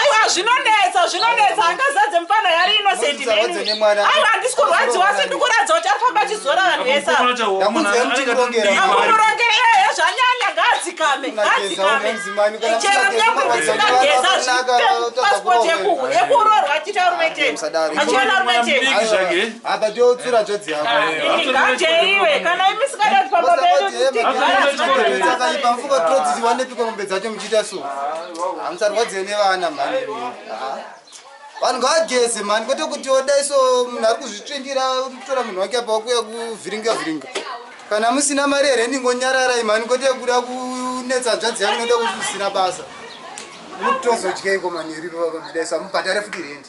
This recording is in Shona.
aiwa zvinonetsa zvinonetsa angazadze mupana yari inosendiaiwa handisi kurwadziwa asi ndikuratidza kuti ari famba achizora vanhu vese amukurongere ehe zvanyanya ngaadzikame ngaadzikame chero nyamuisikageza zvipepasipoti yekuhu yekuroorwa achita rumeteni achiona rumeteni Apa chotsura tsvadzi yako. Nganje iwe kana imi sikada kuti pamba pedu titigara. Takaipa mfuko trodzisi wanepiko mombe dzacho muchiita so. Hamusarwadziwe nevana mhani. Vanhu ngavageze mhani kwete kuti odai so munhu ari kuzvitsvindira kutora munhu wake apa wakuya kuvhiringa vhiringa. Kana musina mari here ndingonyararai mhani kwete kuda kunetsa nzvadzi yangu noda kuti usina basa. Mutozodya iko mhani yeriro vakamudai so mubhadhare futi rendi.